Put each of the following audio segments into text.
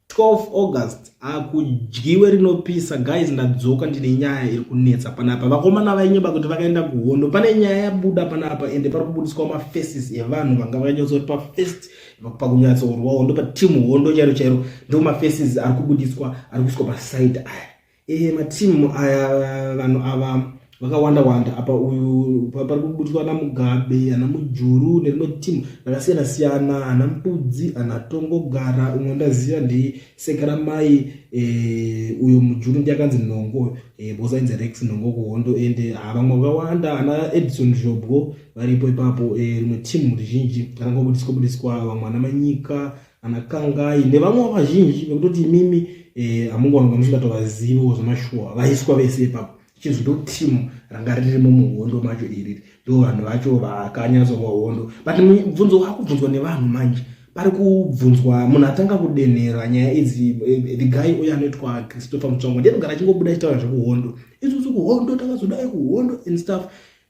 12 august akudyiwe ah, rinopisa guys ndadzoka ndine nyaya iri kunetsa panapa vakomana vainyeba kuti vakaenda kuhondo pane nyaya yabuda panapa ende pari kubudiswa mafaces evanhu vanga vakanyatsoti pafirst pakunyatsourwa hondo patimu hondo chairo chairo ndo mafaces ari kubudiswa ari kuiswa paside aya Ehe matimu aya vanhu ava vakawanda wanda apa uyu pari kubudiswa ana mugabe ana mujuru nerimwe timu rakasiyana siyana ana mbudzi ana tongogara umwe ndaziva ndi sekaramai e, eh, uyo mujuru ndi akanzi nhongo e, eh, bosa inzi rex nhongo kuhondo ende ah, vamwe vakawanda ana edison zhobwo varipo ipapo eh, rimwe e, timu rizhinji rakangobudiswa budiswa vamwe ana manyika ana kangai nevamwe vazhinji vekutoti imimi eh, hamungaononga musingatovaziviwo zvemashuwa vaiswa vese ipapo chinzi ndo timu ranga ririmo muhondo macho iriri ndo vanhu vacho vakanyatsowa hondo but mubvunzo wakubvunzwa nevanhu manje pari kubvunzwa munhu atanga kudenhera nyaya idzi eh, the guy uyo anoitwa christopher mutsongo ndiye anogara achingobuda achitaura zvekuhondo isusu kuhondo takazodai kuhondo and stuff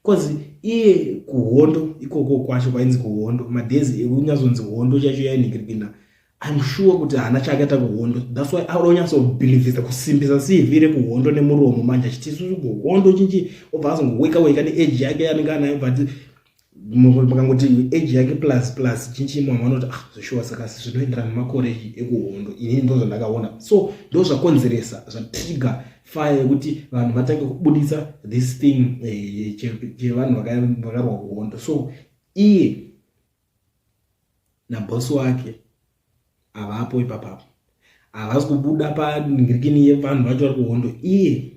bcause iye kuhondo ikoko kwacho kwainzi kuhondo madhezi ekunyazonzi hondo chacho yainhikirikina im sure kuti haana chaakaita kuhondo thats why aonyasobhilivhisa kusimbisa cv rekuhondo nemuromo manje achiti isusu kuhondo chinchi obva azongoweka weka neage yake yanenge anayo but makangoti age yake plus plus chinchi mama vanoti ah zveshuwa saka zvinoenderana nemakore ekuhondo inini ndo zvandakaona so ndo zvakonzeresa zvatriga fire yekuti vanhu vatange kubuditsa this thing eh, chevanhu vakarwa kuhondo so iye nabhosi wake havapo ipapapo havasi kubuda panhirikini yevanhu vacho vari kuhondo iye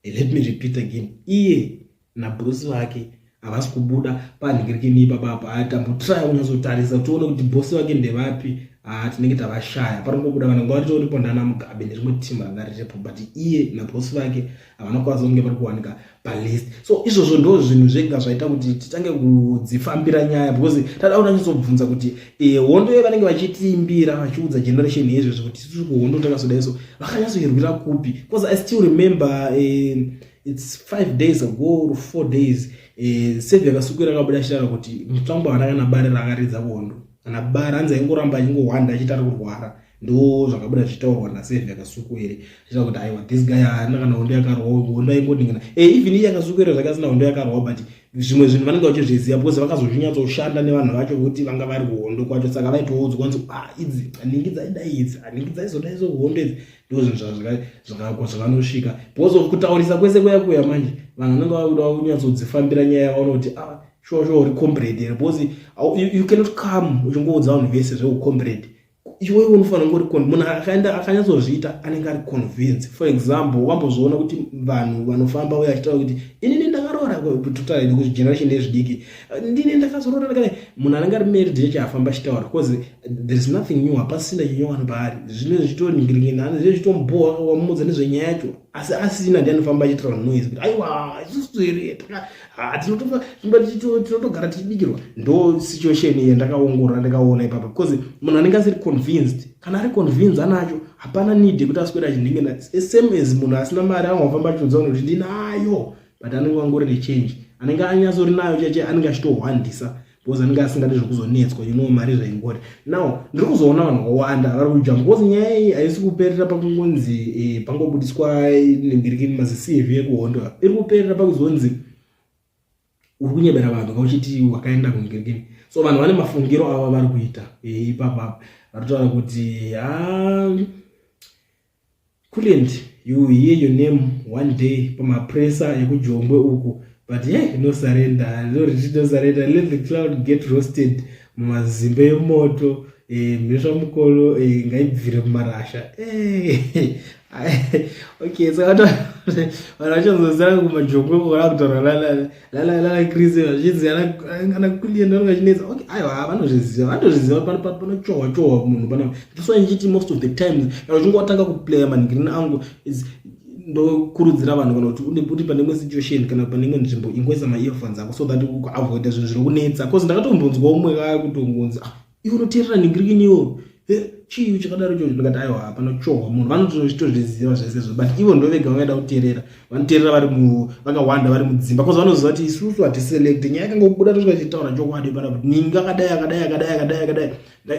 eh, let me repeat again iye nabhosi vake havasi kubuda panhingirikini ipapa apa haa tambotraya kunyazotarisa tione kuti bhosi vake ndevapi haa tinenge tavashaya paringobuda vanenge varitoripo ndana mugabe nerimwe timu ranga riripo but iye nabhosi vake havana kukwanisa kunge vari kuwanika palist so izvozvo ndo zvinhu zvega zvaita kuti titange kudzifambira nyaya because tada kuda nyatsobvunza kuti eh, hondo ye vanenge vachitiimbira vachiudza generation yezvezvo kuti tiri kuhondo takasodaiso vakanyatsoirwira kupi because i still remember eh, its five days ago or four days eh, sevi yakasukwira akabuda achitaura kuti mutsvangwa hana kana bari raakaridza kondo kana bari hanzi aingoramba achingohwanda achiti ari kurwara ndo zvakabuda zvichitaurwa nasevi yakasukwere achita kuti aiwa this guy haana kana hondo yakarwa hondo aingoningina e eh, even iye akasukwira zvake asina hondo yakarwa but zvimwe zvinhu vanenge vachizviziva because vakazozvinyatsoshanda nevanhu vacho kuti vanga vari kuhondo kwacho saka vaitoudzwa nzi ah, idzi aningi dzaidai idzi aningi dzaizodaizo kuhondo idzi ndozvinhu zvakakwa zvakanosvika because of kutaurisa kwese kuya kuya manje vanhu vanenge vakuda kunyatsodzifambira nyaya yavaona kuti a ah, shuwa shuwa uri combrade here because you cannot come uchingoudza vanhu vese zveucombrade iwewe unofanira kunge uri munhu akaenda akanyatsozviita anenge ari convince for example wambozviona kuti vanhu vanofamba uye achitaura kuti inini ndakaroora totaura kuti generation yezvidiki ndine ndakazorora ndakati munhu anenge ari married chechi afamba chitaura because there is nothing new hapasina chinyowani paari zvine zvitonhingiringina ani zve zvitomubhowa wamudza nezvenyaya yacho asi asina ndi anofamba achitaura noise kuti aiwa isusu here tinotogara tichibikirwa ndo situation iye ndakaongorora ndakaona ipapa because munhu anenge asiri convinced kana ari convinced anacho hapana need yekuti aswera achinhingina same as munhu asina mari angafamba achiudza kuti ndinayo but anenge wangori nechange anenge anyatsori nayo cheche anenge achitohwandisa because anenge asingadi zvekuzonetswa you know mari zvaingori now ndiri kuzoona vanhu vakawanda vari kudya because nyaya iyi haisi kuperera pakungonzi eh, pangobudiswa nembirikini mazicv ekuhondo iri kuperera pakuzonzi uri kunyebera vanhu kauchiti wakaenda kumbirikini so vanhu vane mafungiro ava vari kuita eh, ipapapa vari kutaura kuti haa ah, Kulent you hear your name one day pamapresa yekujombwe uku but ye no surrender loriti no surrender let the cloud get roasted mumazimbe yemoto eh, mhesva e, mukolo e, ngaibvire mumarasha e, okay so vanhu vachazozira kumajongwe kora kutaura lalala lala lala chris vazhinzi kana kulienda unenge achinetsa okay aiwa vanozviziva vanotozviziva panochohwa chohwa munhu pana that's why ndichiti most of the times kana uchinge watanga kuplaya manhingirina angu ndokurudzira vanhu kana kuti uri pane imwe situation kana pane imwe nzvimbo ingoisa maearphones ako so that uavoida zvinhu zviri kunetsa bcause ndakatombonzwa umwe kaya kutongonzi ah iwe unoteerera ningirikini iwo chii chakadaro ichocho ndikati aiwa hapana kuchohwa munhu vanotozviziva zvesezvo but ivo ndo vega vanoenda kuteerera vanoteerera vari vakawanda vari mudzimba bcause vanoziva kuti isusu hatiselecte nyaya yakanga kubuda tosvika tichitaura chokwadi pana kuti ningi akadai akadai akadai akadai akadai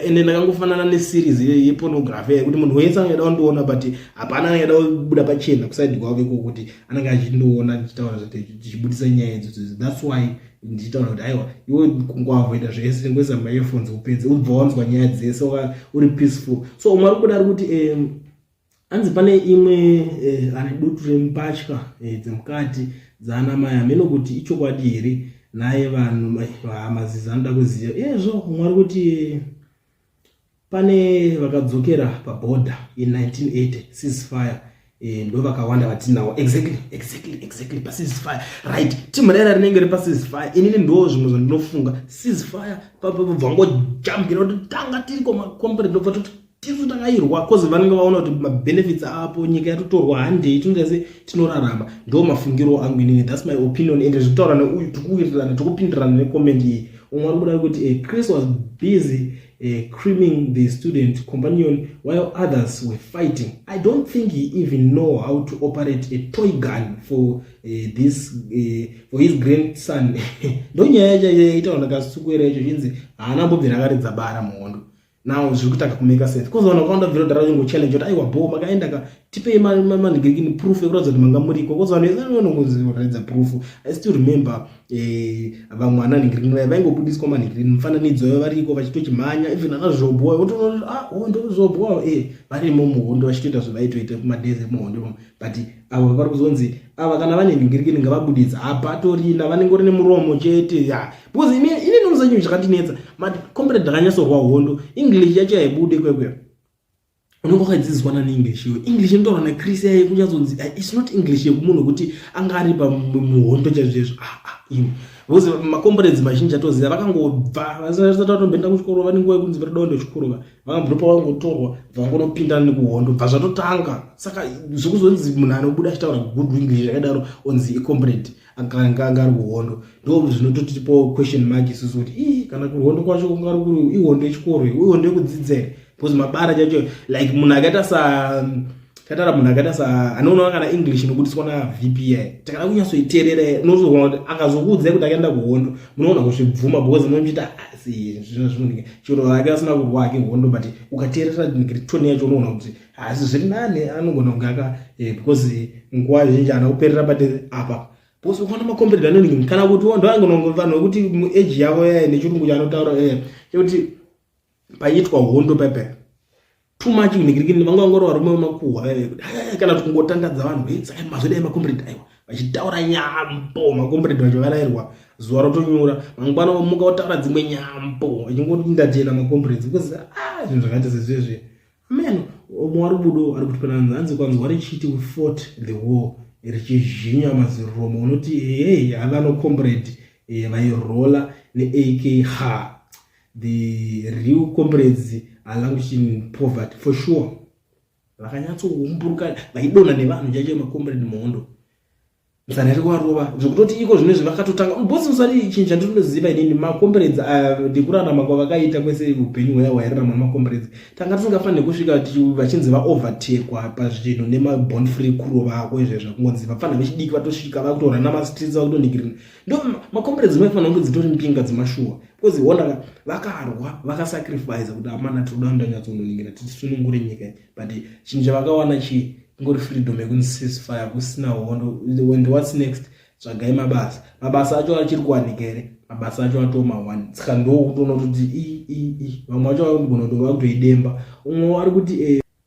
ende ndakangofanana neseries yepornography yekuti munhu wese angaida kundiona but hapana angaida kubuda pachena kusaidi kwavo iko kuti anenge achindiona ndichitaura tichibudisa nyaya idzodzo thats why ndichitaura kuti aiwa iwe kungwavoita zvese tengoisa maearphones upedze ubva wanzwa nyaya dzese uri peaceful so umwe ari kuda ari kuti um, hanzi pane imwe eh, ane dutu remupatya eh, dzemukati dzaana mai hameno kuti ichokwadi here naye vanhu mazizi anoda kuziva ezvo mwari kuti pane vakadzokera paborder in 1980 ceasefire eh, ndo vakawanda vatinawo exactly exactly exactly paceasefire right team raira rinenge ri paceasefire inini ndo zvimwe zvandinofunga ceasefire pabva ngojambira kuti tanga tiri komacomplete ndobva toti tiri kutakairwa bcause vanenge vaona kuti mabenefits apo nyika yatotorwa handei tinoita se tinorarama ndo mafungiro angu inini thats my opinion ende zvekutaura neuyu tikuwirirana tikupindirana necomment iyi umwe ari kuda kuti eh, chris was busy uh, creaming the student companion while others were fighting. I don't think he even know how to operate a toy gun for uh, this uh, for his grandson. Ndonyaya yacho yaita vanhu kasukuera icho chinzi haana mbobvira akaridza bara muhondo. now zviri kutanga kumaker sense bcause vanhu vakawanda vhira kudhara vachingo challenge kuti aiwa bho makaenda ka tipei manigirikini proof yekuratidza kuti manga muriko bcause vanhu vese vanongoratidza proof i still remember eh, vamwe ana nigirikini vaya vaingobudiswa manigirikini mufananidzo yavo variko vachitochimhanya even ana zvobhoa otoona ah hondo zvobhoa e eh, varimo muhondo vachitoita zvavaitoita kumadays emuhondo but avo vavari kuzonzi ava kana vane ndingirikini ngavabudidza hapatorina vanengori nemuromo chete ya because ine ine nomusa chinhu chakatinetsa mati comrade ndakanyatsorwa hondo english yacho yaibude kwekwe unenge wakadzidziswa nani english iyo english inotaura nacris yaye kunyatsonzi ah, its not english yekumunhu wekuti anga ari pamuhondo chaizvezvo aa ah, ah, iwe because macomrades mazhinji atoziva vakangobva vasati vatomboenda kuchikoro vanenguva yekunzi vatoda kuenda kuchikoro vakambopa vangotorwa vangonopinda nekuhondo bva zvatotanga saka zvekuzonzi munhu anobuda achitaura good english zvakadaro onzi icomrade akanga anga ari kuhondo ndo zvinototipo question mark isusu kuti ii kana kuhondo kwacho kunga ari kuri ihondo yechikoro ihondo yekudzidzere because mabara chacho like munhu akaita sa Tatara munhu akaita sa anoona kana English inobudiswa na VPI. Takada kunyatsoiterera unozoona kuti akazokuudzai kuti akaenda kuhondo. Munoona kuzvibvuma because munomuita asi ah, zvino zvinonika. Chero akaita sina kurwa hake hondo but ukaterera tone yacho unoona kuti asi zviri nani anogona kunge aka eh, because nguva zhinji ana kuperera but apa because ukaona makombirida anoningi kana kuti wondoangonongo vanhu vekuti mu age yavo yaye nechirungu chanotaura eh chekuti paiitwa hondo pepe too much unigirigini vanga vangoro varume vemakuhwa vaive kuti aya kana kuti kungotandadza vanhu e saka mazodai makombredi aiwa vachitaura nyambo makombredi vacho varairwa zuva rotonyura mangwana vamuka votaura dzimwe nyambo vachingoti ndachena makombredi because a ah, zvinhu zvakaita sezvezve amen mwari budo ari kuti pana nhanzi kwanzwa richiti we fought the war richizhinya maziromo unoti hey havanokombredi eh, vairola neak ha the real comrades are languishing in poverty for sure vakanyatsoumburuka vaidona nevanhu chaicho macomrade muhondo musana iri kuvarova zvekutoti iko zvino izvi vakatotanga bosi musati chinhu chandinoziva inini macomrades ah, ndikurarama kwavakaita kwese upenyu hwaya hwairarama macomrades tanga tisingafanire kusvika vachinzi vaovertekwa pazvinhu nemabond free kurova ako izvezvo kungonzi vapfanha vechidiki vatosvika vakutorana mastreets vakutonikirina ndo macomrades maifanira kunge dzitori mbinga dzemashuwa Because wona ka vakarwa vakasacrifice kuti amana tinoda ndanyatsononingina tisunungure nyika but chinhu chavakawana chii ngori freedom yekunzi ceasefire kusina hondo and what's next tsvagai mabasa mabasa acho achiri kuwanika here mabasa acho atoma one saka ndokutoona kuti vamwe vacho vaigona kuti vakutoidemba umwe ari kuti e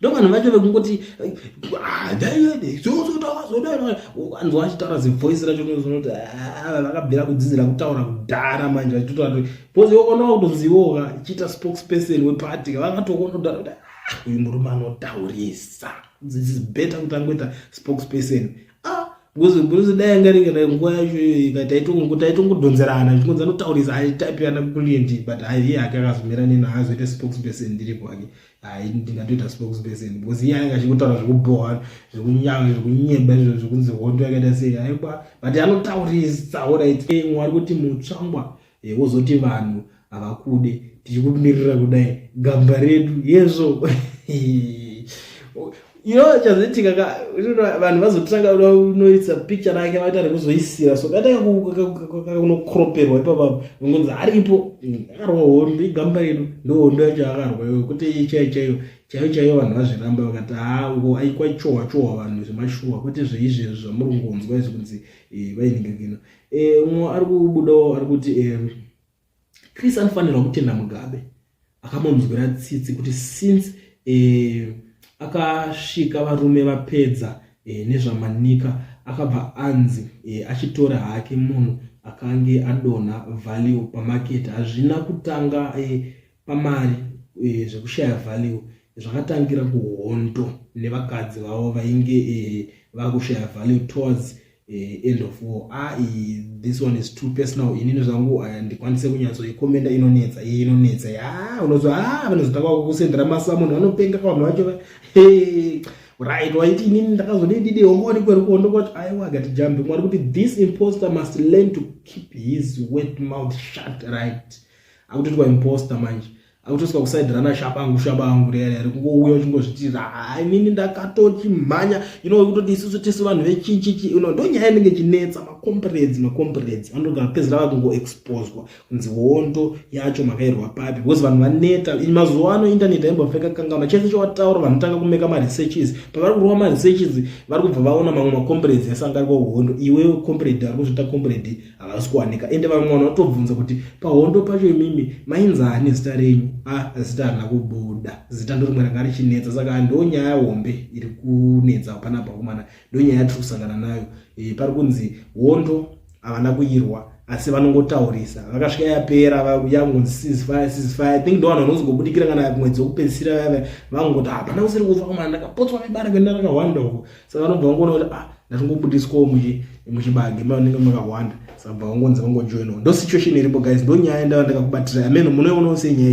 ndovanhu vacho vekungoti anzwa vachitaura zivoice racho nozonoti vakabvira kudzidzira kutaura kudhara manje vachitotaura kuti bcause okonaa kutonzivoka chiita spokesperson weparty vakatokonodhara kuti ah, uyu murume anotaurisa this is better kuti angoita spokesperson ah, bcause bcause dai anga ringe dai nguva yacho iyoyika taitongodhonzerana zvikonzi anotaurisa aitaipiana kuliendi but aiye hake akazomira nena azoita spokesperson ndiri kwake hai ndingatoita spokesperson because iye anenge achikutaura zvekubhowa zvekunyanga zvekunyeba izvo zvekunzi hondo yakaita sei aibwa but anotaurisa orit mwe ari kuti mutsvangwa eh, wozoti vanhu havakude tichikumirira kudai gamba redu yezvo iyo chazoitika ka vanhu vazotanga unoisa picture rake vaita rekuzoisira so katanga kunokroperwa ipapapo ngonzi aripo akarwa hondo igamba redu ndohondo yacho akarwa iyo kuti iyi chaiyo chaiyo chaiyo chaiyo vanhu vazviramba vakati haawo aikwachohwa chohwa vanhu zvemashuwa kwete zveizvezvi zvamuri kungonzwa izvi kunzi eh, vainingakino eh, umwe ari kubudawo ari kuti eh, Chris anofanirwa kutenda Mugabe akamonzwira tsitsi kuti since eh, akasvika varume vapedza eh, nezvamanika akabva anzi eh, achitora hake munhu akange adonha value pamarket hazvina kutanga eh, pamari e, zvekushaya value zvakatangira kuhondo nevakadzi vavo vainge e, vakushaya value towards e, end of war ah, e, this one is too personal inini zvangu handikwanise kunyatsoikomenda inonetsa iye inonetsa ya unozwa a ah, vanozotanga kukusendera masamunhu vanopenga kavanhu vacho hey right waiti inini ndakazodididi hongoni kweri kuhondo kwati aiwa gati jambi mwari kuti this imposter must learn to keep his wet mouth shut right akutoitwa imposter manje akutoiswa kuside rana shabangu shabangu rere ari kungouya uchingozvitira hainini ndakatochimhanya you know kutoti isusu tisu vanhu vechichichi you know ndonyaya inenge chinetsa macomprades macomprades vanogara pedzira vakungoexposwa kunzi hondo yacho makairwa papi because vanhu vaneta mazuva ano internet aimbofeka kangaona chese chowataura vanotanga kumeka maresearches pavari kurova maresearches vari kubva vaona mamwe macomprades esangariko hondo iwewe comprade ari kuzviita comprade havasi kuwanika ende vamwe vanhu vatobvunza kuti pahondo pacho imimi mainzani zita renyu a ah, zita harina kubuda zita ndorimwe ranga richinetsa saka ndonyaya hombe iri kunetsa pana bhakumana ndonyaya yatiri kusangana nayo e, pari kunzi hondo havana kuirwa asi vanongotaurisa vakasvika yapera yangonzi sizifaya sizifaya think ndo vanhu vanozongobudikira kana mwedzi wekupedzisira vaya vaya vangoti hapana kusiri kufa kumana ndakapotswa nebara kuenda rakahwanda uko saka vanobva vangoona kuti ah ndatingobudiswawo muchibage mavanenge makahwanda saka bva vangonzi vangojoinawo ndo situation iripo guys ndo nyaya ndava ndakakubatira ameno munoionawo senyaya